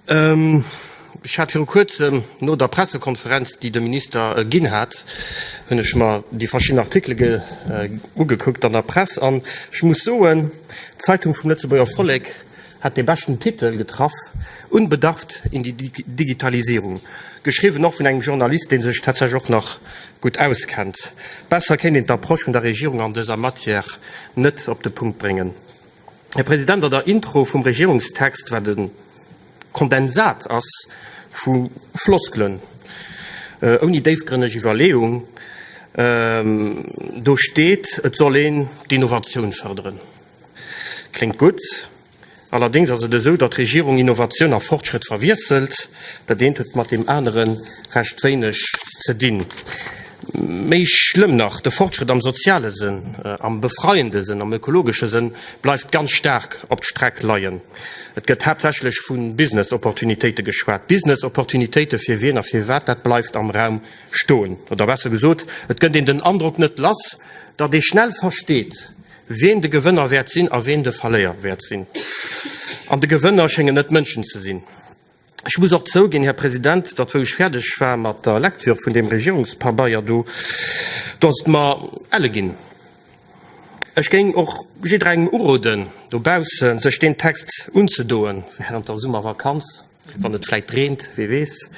Ech hat viru kuerzem, no der Pressekonferenz, déi de Minister ginn hat, hunn ech mer déi verschidden Artikele ugekuckt an der Press an ech muss soen, d'Zeitung vum Lëtzebuerger Vollek hat de beschten Titel getraff, Unbedarft in die Digitalisierung. Geschriwwen och vun engem Journalist, dee sech tatsächlech och nach gutt auskennt. Besser kéint een d'Approche vun der Regierung an dëser Matière net op de Punkt bréngen. Här President, an der Intro vum Regierungstext, wat e Kondensat ass vu Floskelen ouni déifgrënneg Iwwerleeung, do steet, et soll een d'Innovatioun fërderen. Kléngt gutt, allerdéngs ass et esou, datt d'Regierung Innovatioun a Fortschrëtt verwiesselt. Dat eent huet mat deem anere recht wéineg ze dinn. Méi schlëmm nach, de Fortschrëtt am soziale Sënn, am befreiende Sënn, am ökologesche Sënn bleift ganz staark op d'Streck leien. Et gëtt haaptsächlech vu Business-Opportunitéite geschwat. Business-Opportunitéite fir wien a firwat, dat bleift am Raum stoen. Oder besser gesot, et gëtt een den Androck net lass, datt ee schnell versteet, wien de Gewënner wäert sinn a wien de Verléier wäert sinn. An de Gewënner schéngen net d'Mënschen ze sinn. Ech muss och zouginn, Här President, datt, wou ech fäerdeg war mat der Lektür vun deem Regierungspabeier do, do ass et mer elle ginn. Ech géing och jidderengem uroden dobausse sech deen Text unzedoen während der Summervakanz, wann et vläicht reent, wee weess,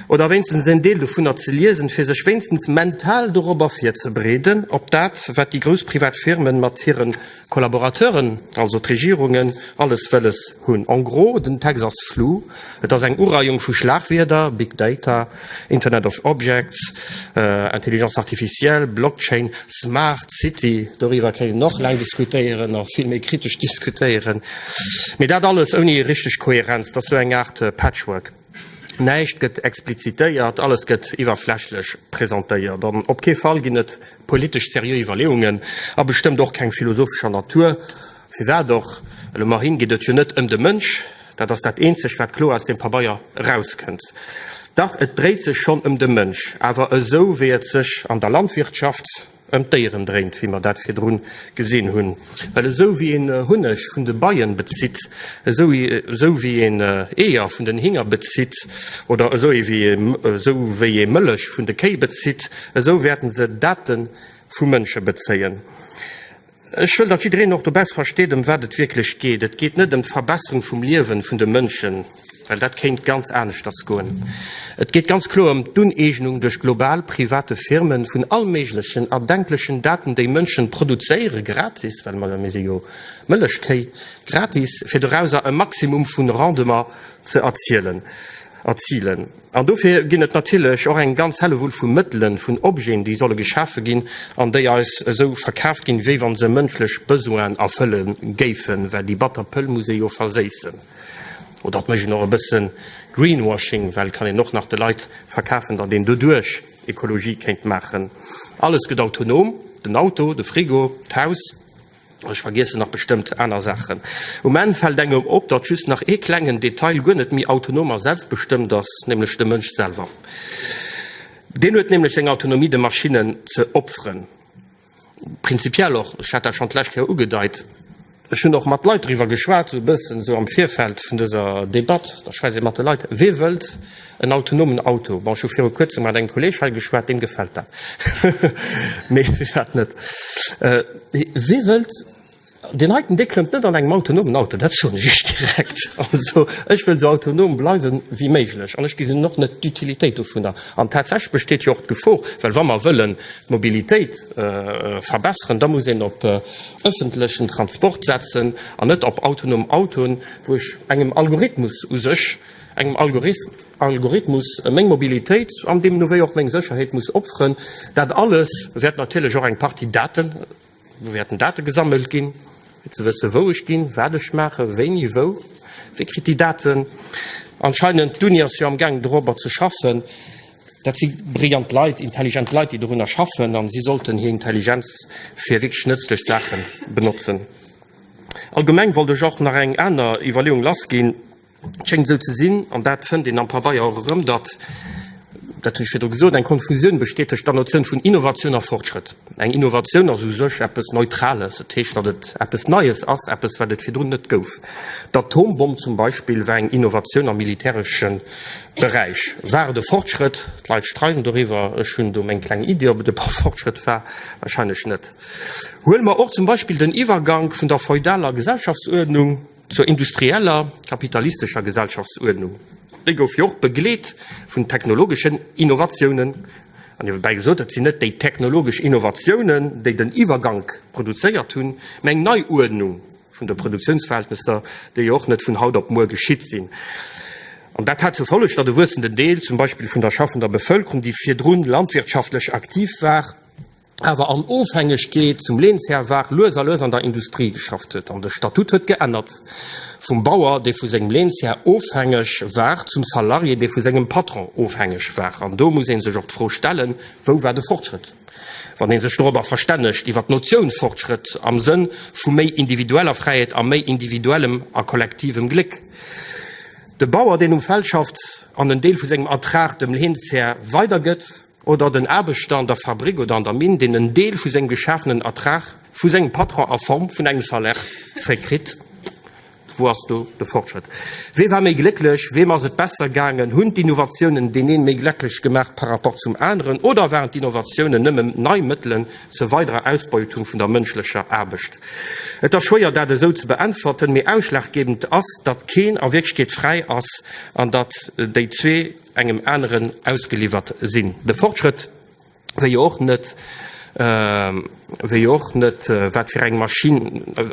oder wéinstens en Deel dovunner ze liesen, fir sech wéinstens mental dorobber virzebereeden, op dat, wat déi grouss privat Firmen mat hire Collaborateuren, also d'Regierungen, alles wëlles hunn. En gros, den Text ass flou. Et ass eng Ureiung vu Schlagwierder, Big Data, Internet of Objects, Intelligence artificielle, Blockchain, Smart City, doriwwer kéint een och laang diskutéieren a vill méi kritesch diskutéieren, mee dat alles ouni richteg Kohärenz. Et ass sou eng Aart Patchwork. Näischt gëtt explizitéiert, alles gëtt iwwerflächlech presentéiert an op kee Fall ginn et politesch seriö Iwwerleeungen a bestëmmt och keng philosophescher Natur. Firwat och? Well um Erhinn geet et jo net ëm de Mënsch, dat ass dat eenzegt, wat kloer aus deem Pabeier erauskënnt. Dach, et dréit sech schonn ëm de Mënsch, awer esou, wéi et sech an der Landwirtschaft, ëm d'Déieren dréint, wéi mer dat virdru gesinn hunn. Well esou wéi een Hunneg vun de Beien bezitt, esou wéi een Eeër vun den Hinger bezitt oder esou wéi ee Mëllech vun de Kéi bezitt, esou wäerten se Date vu Mënsche bezéien. Ech wëll, datt jiddereen och dobess versteet, ëm wat et wierklech geet. Et geet net ëm d'Verbesserung vum Liewen vun de Mënschen, well dat kéint ganz aneschters goen. Et geet ganz kloer ëm d'Uneegnung duerch global private Firmen vun allméiglechen erdenklechen Daten, déi Mënschen produzéiere gratis, well mer, mir si jo Mëllechkéi, gratis, fir dorauser e Maximum vun Rendement ze erzielen, erzilen. An dofir ginn et natierlech och eng ganz Hellewull vu Mëttelen, vun Objeten, déi solle geschafe ginn an déi eis esou verkaaft ginn, wéi wa se mënschlech Besoinen erfëlle géifen, well déi batter Pëll muss ee jo verséissen. Oder et mécht een och e bësse Greenwashing, well et kann een och nach de Leit verkafen, datt een doduerch Ekologie kéint maachen. Alles gëtt autonom, den Auto, de Frigo, d'Haus. Ech vergiessen nach bestëmmt aner Saachen. Um Enn fält engem op, datt just nach ee klengen Detail guer net méi autonom a selbstbestëmmt ass, nämlech de Mënsch selwer. Deen huet nämlech seng Autonomie de Maschinnen ze opferen. Prinzipiell och, ech hat dat schonn d'lescht Kéier ugedeit, ech hunn och mat Leit driwwer geschwat, esou e bëssen esou am Virfeld vun dëser Debatt, da schwätzt ee mat de Leit, wee wëllt, En autonomen Auto, bon ech hu viru kuerzem mat engem Kolleg hei geschwat, deem gefält dat, mee mech hat net. Wee wëllt deen heiten, dee klëmmt net an engem autonomen Auto, dat soen ech iech direkt. Also ech wëll esou autonom bleiwe wéi méiglech an ech gesinn och net d'Utilitéit dovunner. An tatsächlech besteet jo och d'Gefor, well wa mer wëllen d'Mobilitéit verbesseren, da muss een op ëffentlechen Transport setzen an net op autonom Autoen, wou ech engem Algorithmus u sech, engem Algorithmus meng Mobilitéit an deemno wéi och meng Sécherheet muss opferen. Dat alles wäert natierlech och eng Partie Daten, do wäerten Date gesammelt ginn, fir ze wësse wou ech ginn, wat ech maachen, wéini, wou. Wie kritt déi Daten? Anscheinend, d'Uni ass jo amgaangen dorobber ze schaffen. Dat si brillant Leit, intelligent Leit, déi dorunner schaffen a si sollten hir Intelligenz fir wierklech nëtzlech Saache benotzen. Allgemeng wollt ech och nach eng aner Iwwerleeung lassginn. Et schéngt esou ze sinn, an dat fënnt een am Pabeier och erëm, datt, dat hunn ech virdru gesot, eng Konfusioun besteet tëscht der Notioun vun Innovatioun a Fortschrëtt. Eng Innovatioun ass u sech eppes Neutrales, dat heescht, datt et eppes Neies ass, eppes, wat et virdrun net gouf. D'Atombomm zum Beispill war eng Innovatioun am militäresche Beräich. War et e Fortschrëtt? D'Leit streiden doriwwer. Ech hunn do meng kleng Iddi, ob et e Fortschrëtt war. Warscheinlech net. Huele mer och zum Beispill den Iwwergank vun der feudaler Gesellschaftsuerdnung, Zur industrieller, kapitalistescher Gesellschaftsuerdnung, déi gouf jo och begleet vun technologeschen Innovatiounen, an niewebäi gesot, et sinn net déi technologesch Innovatiounen, déi den Iwwergank produzéiert hunn, mä eng Neiuerdnung vun de Produktiounsverhältnesser, déi jo och net vun haut op muer geschitt sinn. An dat hat zur Folleg, datt e wuessenden Deel zum Beispill vun der schaffender Bevëlkerung, déi virdrun landwirtschaftlech aktiv war, awer an Ofhängegkeet zum Leenshär war, lues a lues an der Industrie geschafft huet. An de Statut huet geännert, vum Bauer, dee vu sengem Leenshär ofhängeg war, zum Salarié, dee vu sengem Patron ofhängeg war. An do muss ee sech och d'Fro stellen, Wou war de Fortschrëtt, wann ee sech dorobber verstännegt, iwwer d'Notioun Fortschrëtt am Sënn vu méi individueller Fräiheet a méi individuellem a kollektivem Gléck? De Bauer, deen um Feld schafft an en Deel vu sengem Ertrag dem Leenshär weidergëtt, oder den Aarbechter an der Fabrick oder an der Minn, deen en Deel vu sengem geschafenen Ertrag vu sengem Patron a Form vun engem Salaire zréckkritt. Wou ass do de Fortschrëtt? Wee war méi glécklech? Weem ass et besser gaangen? Hunn d'Innovatiounen deen een méi glecklech gemaach par rapport zum aneren? Oder waren d'Innovatiounen nëmme nei Mëttelen zur weiderer Ausbeutung vun der mënschlecher Aarbecht? Et ass schwéier, dat esou ze beäntwerten, mee ausschlaggebend ass, datt keen a Wierklechkeet fräi ass an datt déi zwee, engem aneren ausgeliwwert sinn. De Fortschrëtt, wéi jo och net, wéi jo och net, wat fir eng Maschinn,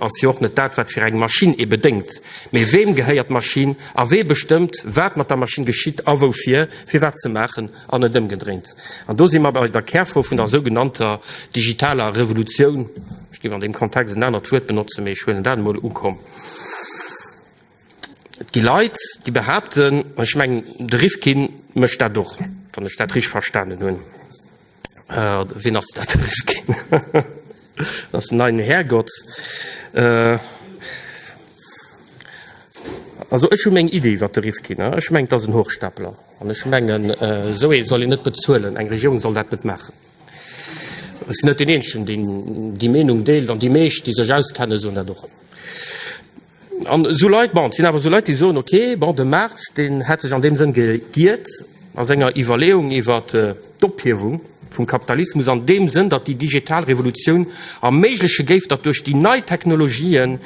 ass jo och net dat, wat fir eng Maschinn ee bedéngt, mee weem gehéiert d'Maschinn a wee bestëmmt, wat mat der Maschinn geschitt a woufir, fir wat ze maachen an net ëmgedréint. An do si mer bei der Kärfro vun der sougenannter digitaler Revolutioun, ech géif an deem Kontext en anert Wuert benotzen, mee ech huelen dat emol, ukomm. Et gi Leit, déi behaapten, an ech mengen, de Rifkin mécht dat och, wann ech dat richtig verstanen hunn, äh, oder wien ass dat, de Rifkin? dat ass den neien Härgott. Äh, also ech hu meng Idee iwwer de Rifkin. Äh. Ech meng, dat ass en Hochstapler. An ech mengen, äh, esou ee soll een net bezuelen, eng Regierung soll dat net maachen. Ech sinn net deen Eenzegen, deen déi Meenung deelt, an déi meescht, déi sech auskennen, soen dat och. An esou Leit, bon, et sinn awer esou Leit, déi soen, okay, bon, de Marx, deen hätt sech an deem Sënn geiert a senger Iwwerleeung iwwer d'Ophiewung vum Kapitalismus an deem Sënn, datt déi digital Revolutioun erméigleche géif, datt duerch déi nei Technologien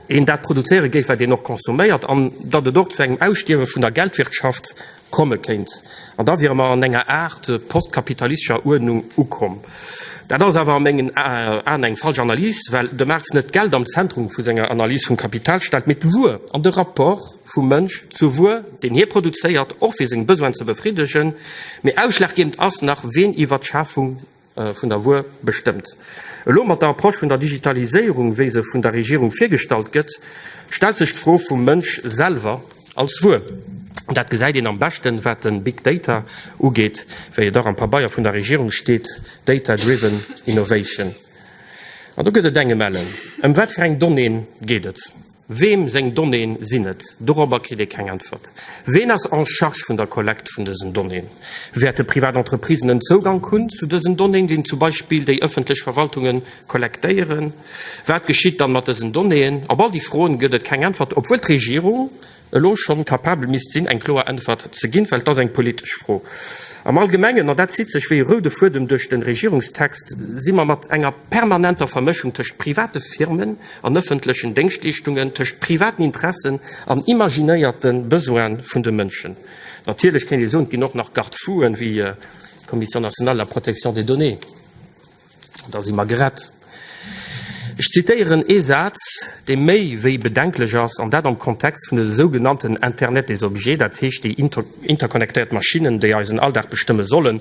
een dat produzéiere géif, wat een och consomméiert an datt et och zu engem Ausstierwe vun der Geldwirtschaft Komme kéint. An da wiere mer an enger Aart postkapitalistischer Uerdnung ukomm. Dat ass awer a mengen Aen eng falsch Analys, well de Marx net d'Geld am Zentrum vu senger Analys vum Kapital stellt, mee d'Wuer an de Rapport vum Mënsch zur Wuer, deen hie produzéiert, och fir seng Besoinen ze befriddegen, mee ausschlaggebend ass nach, ween iwwer d'Schafung. vun der Wuer bestëmmt. Elo mat der Approche vun der Digitaliséierung, wéi se vun der Regierung virgestallt gëtt, stellt sech d'Fro vum Mënsch selwer als Wuer. Dat gesäit een am beschten, wat de Big Data ugeet, wéi et och am Pabeier vun der Regierung steet, Data driven innovation. An do gëtt et eng Gemelle. Ëm wat fir eng Donnéeën geet et? Weem seng Donnéeën sinn et? Dorobber kritt ee keng Äntwert. Ween ass en charge vun der Kollekt vun dësen Donnéeën? Wäerte privat Entreprisen en Zougank hunn zu dësen Donnéeën, déi zum Beispill déi ëffentlech Verwaltunge kollektéieren? Wat geschitt dann mat dësen Donnéeën? Op all déi Froen gëtt et keng Äntwert, obwuel d'Regierung elo schonn capabel misst sinn, eng kloer Äntwert ze ginn, well et ass eng politesch Fro. Am Allgemengen, an dat zitt sech wéi e roude Fuedem duerch den Regierungstext, si mer mat enger permanenter Vermëschung tëscht private Firmen, an ëffentlechen Déngschtleeschtungen tëscht privaten Interessen an imaginéierte Besoine vun de Mënschen. Natierlech kéint ee soen, et ginn och nach Garde-fouen, wéi d'Commission nationale de la protection des données, an da si mer gerett. Ech zitéieren ee Saz, dee méi wéi bedenklech ass, an dat am Kontext vun de sougenannten Internet des objets, dat heescht déi interconnectéiert Maschinnen, déi eisen Alldag bestëmme sollen,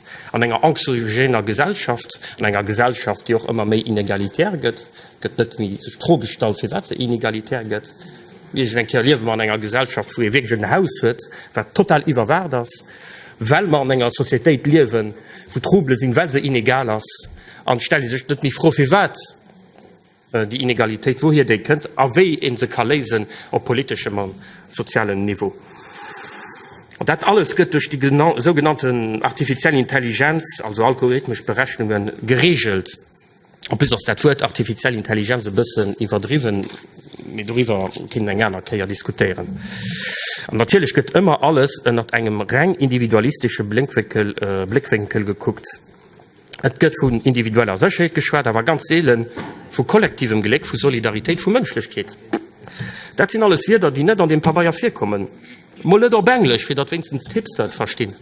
An enger anxiogéner Gesellschaft, an enger Gesellschaft, déi och ëmmer méi inegalitär gëtt, gëtt net méi sech d'Fro gestallt, firwat se inegalitär gëtt. Iergend eng Kéier liewe mer an enger Gesellschaft, wou ee wierklech en Haus huet, wat total iwwerwaacht ass, well mer an enger Societéit liewen, wou Trouble sinn, well se inegal ass. An et stellt ee sech net méi d'Fro, firwat Déi Inegalitéit, wouhier déi kënnt a wéi ee se ka léisen op politeschem a sozialem Niveau. An dat alles gëtt duerch déi sougenannte artifiziell Intelligenz, also algorithmesch Berechnunge gereegelt. En plus ass dat Wuert artifiziell Intelligenz e bëssen iwwerdriwwen, mee doriwwer kéint een eng aner Kéier diskutéieren. An natierlech gëtt ëmmer alles ënnert engem reng individualistesche Bléckwénkel gekuckt. Et gëtt vun individueller Sécherheet geschwat, awer ganz seele vu kollektivem Gléck, vu Solidaritéit, vu Mënschlechkeet. Dat sinn alles Wierder, déi net an deem Pabeier virkommen. Mol net op Englesch, fir datt wéinstens d'Hipster et verstinn.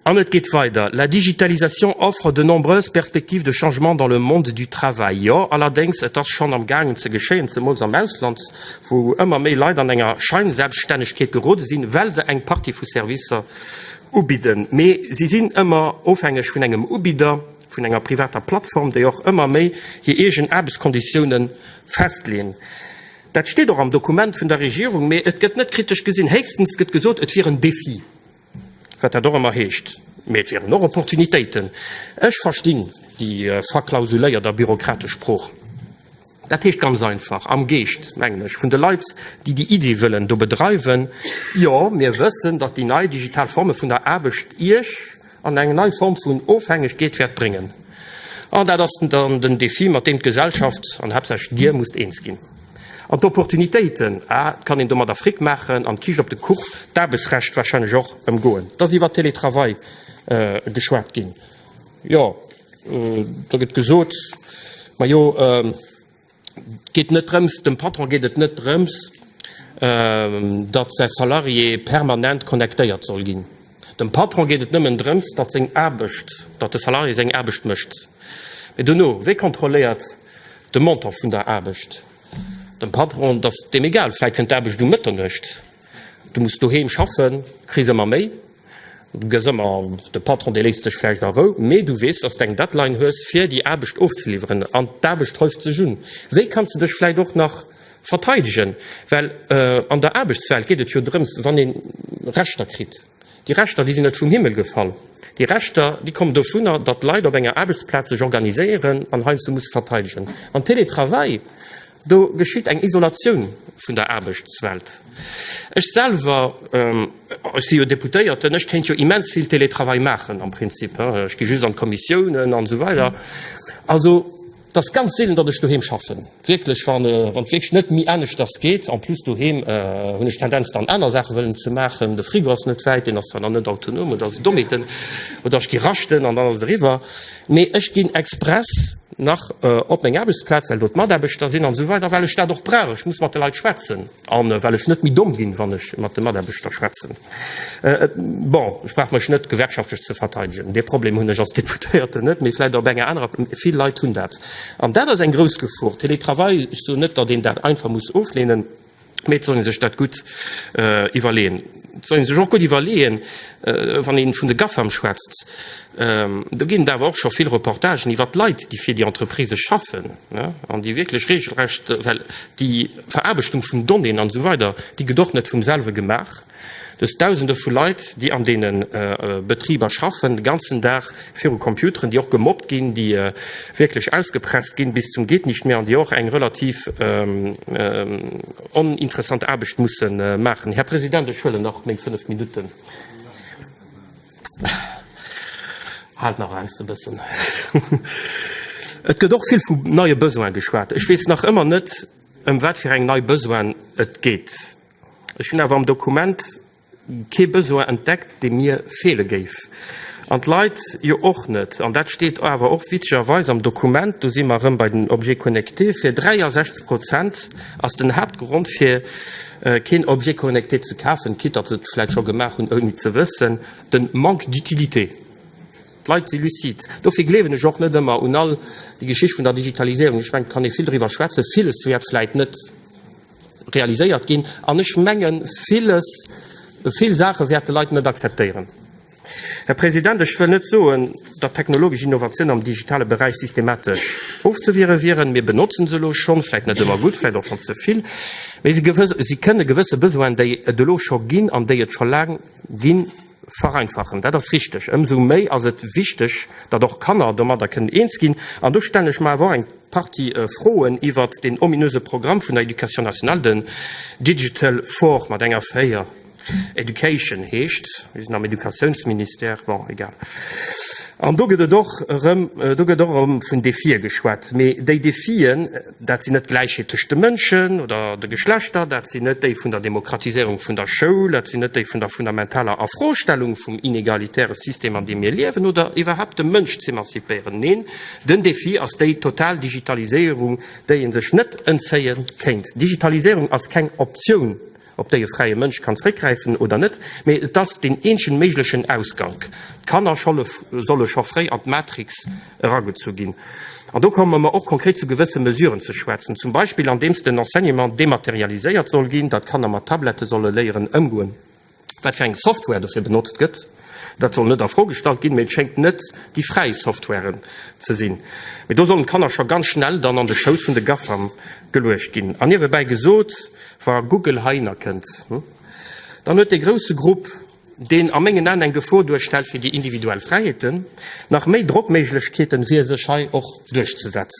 An et geet weider, La digitalisation offre de nombreuses perspectives de changement dans le monde du travail. Jo, allerdéngs, et ass schonn am gaangen ze geschéien, zemools am Ausland, wou ëmmer méi Leit an enger Scheinselbststännegkeet gerode sinn, well se eng Partie vu Servicer, Ubidden, mee si sinn ëmmer ofhängeg vun engem Ubidder, vun enger privater Plattform, déi och ëmmer méi hir eegen Aarbechtskonditiounen festleen. Dat steet och am Dokument vun der Regierung, mee et gëtt net kritesch gesinn. Héchstens gëtt gesot, et wier en Defi, wat dat och ëmmer heescht, mee et wieren och Opportunitéiten. Ech verstinn déi verklausuléiert a bürokratesch Sprooch. Dat heescht ganz einfach, am Geescht, mengen ech, vun de Leit, déi déi Iddi wëllen do bedreiwen, Jo, mir wëssen, datt déi nei digital Forme vun der Aarbecht Iech an eng nei Form vun Ofhängegkeet wäert bréngen. An dat ass dann den Defi, mat deem d'Gesellschaft an haaptsächlech Dir musst eens ginn. An d'Opportunitéiten, ah, et kann een domadder Fric maachen an d'Kiischt op de Kuch, d'Aarbechtsrecht wahrscheinlech och, ëmgoen. Et ass iwwert Teletravail geschwat ginn. Jo, do gëtt gesot, majo geet net drëms, dem Patron geet et net drëms, datt säi Salarié permanent connectéiert soll ginn. Dem Patron geet et nëmmen drëms, datt seng Aarbecht, datt de Salarié seng Aarbecht mécht. Mee dono, wee kontrolléiert de Montant vun der Aarbecht? Dem Patron ass deem egal, vläit kënnt d'Aarbecht um Mëtternuecht. Du muss doheem schaffen, kriss ëmmer méi, gëss ëmmer an, de Patron dee léisst dech vläicht a Rou, mee du weess, dass d'eng Deadline hues fir déi Aarbecht ofzeliwweren an d'Aarbecht häuft sech un. Wéi kanns de dech vläicht och nach verteidegen? Well an der Aarbechtswelt geet et jo drëms, wann ee Rechter kritt, déi Rechter déi sinn net vum Himmel gefall, déi Rechter déi kommen dovunner, datt Leit op enger Aarbechtsplaz sech organiséieren an heiansdo musse verteidegen. An Télétravail? Do geschitt eng Isolatioun vun der Aarbechtswelt. Ech selwer, ech si jo Deputéierten, ech kéint jo immens vill Télétravail maachen am Prinzip. Ech gi just an d'Kommissiounen an esou weider. Also et ass ganz seelen, datt ech doheem schaffen, wierklech wann wierklech net méi aneschters geet. En plus doheem hunn ech d'Tendenz dann aner Saache wëllen ze maachen. De Frigo ass net wäit, deen ass zwar nach net autonom, et ass e Dommeten oder ech gi raschten an dann ass et eriwwer. Mee ech ginn express nach op meng Aarbechtsplaz, well do d'Mataarbechter sinn an esou weider, well ech dat och brauch. Ech muss mat de Leit schwätzen a well ech net méi domm ginn, wann ech mat de Mataarbechter schwätzen. Bon, ech brauch mech net gewerkschaftlech ze verteidegen. Dee Problem hunn ech als Deputéierten net, mee vläicht op enger anerer. Vill Leit hunn dat. An dat ass eng grouss Gefor. Teletravail, ech soen net, datt een dat einfach muss ofleenen. Mee et soll ee sech dat gutt iwwerleeën. Et soll ee sech och gutt iwwerleeën, wann ee vun de Gafam schwätzt, do ginn et awer och scho vill Reportagen iwwert d'Leit, déi fir déi Entreprisë schaffen an déi wierklech reegelrecht, well déi Veraarbechtung vun Donnéeën an esou weider, déi gëtt och net vum selwe gemaach. Dës Dausende vu Leit, déi an deene Betriber schaffen, de ganzen Dag viru Computeren, déi och gemobbt ginn, déi wierklech ausgepresst ginn bis zum Geet-Nicht-Mehr an déi och eng relativ oninteressant Aarbecht musse maachen. Här President, ech huelen nach meng fënnf Minutten. Haalt nach aus e bëssen. Et gëtt och vill vu neie Besoine geschwat. Ech weess nach ëmmer net, ëm wat fir eng nei Besoine et geet. Ech hunn awer am Dokument kee Besoin entdeckt, dee mir feele géif, an d'Leit jo och net. An dat steet awer och witzegerweis am Dokument, do si mer erëm bei den Objets connectés, fir 63 Prozent ass den Haaptgrond, fir keen Objet connecté ze kafen, quitt datt se et vläicht scho gemaach hunn, ouni ze wëssen, de Manque d'utilité. D'Leit si lucide. Dofir gleewen ech och net ëmmer un all déi Geschicht vun der Digitaliséierung. Ech mengen, et kann ee vill driwwer schwätzen, villes wäert vläicht net, realiséiert ginn. An ech menge villes, vill Saache wäert de Leit net akzeptéieren. Här President, ech wëll net soen, datt technologesch Innovatioun am digitale Beräich systematesch ofzewiere wieren. Mir benotzen se elo schonn, vläicht net ëmmer gutt, vläicht och schonn ze vill, mee si kënne gewësse Besoinen, déi et elo scho ginn an déi et scho laang ginn, Vereinfachen, dat ass richteg. Ëmsou méi ass et wichteg, datt och Kanner domadder kënnen eens ginn. An do stellen ech mer awer och eng Partie Froen iwwert deen ominöse Programm vun der Éducation nationale, den Digital for mat enger 4. Education heescht. Mir sinn am Educatiounsministère, bon, egal. An do gëtt och erëm vun Defie geschwat. Mee déi Defien, Dat sinn net d'Gläichheet tëscht de Mënschen oder de Geschlechter, dat sinn net déi vun der Demokratiséierung vun der Schoul, dat sinn net déi vun der fundamentaler Afrostellung vum inegalitäre System, an deem mir liewen, oder iwwerhaupt de Mënsch z'emancipéieren. Neen, den Defi ass déi total Digitaliséierung, déi ee sech net entzéie kéint. Digitaliséierung ass keng Optioun. op déi e fräie Mënsch kann zréckgräifen oder net, mee et ass deen eenzegen méiglechen Ausgank. D'Kanner solle scho fréi an d'Matrix eragezu ginn. An do komme mer och konkret zu gewësse Mesuren ze schwätzen, zum Beispill andeems den Enseignement dematerialiséiert soll ginn, datt d'Kanner mat Tablette solle léieren ëmgoen, wat fir eng Software dofir benotzt gëtt, Dat soll net a Fro gestallt ginn, mee et schéngt net déi fräi Softwaren ze sinn. Mee do sollen d'Kanner scho ganz schnell dann an de Schouss vun de GAFAM geluecht ginn. An niewebäi gesot, wa Google heihinner kënnt, dann huet dee grousse Grupp, deen a mengen Aen eng Gefor duerstellt fir déi individuell Fräiheeten, nach méi Drockméiglechkeeten, fir sech hei och duerchzesetzen.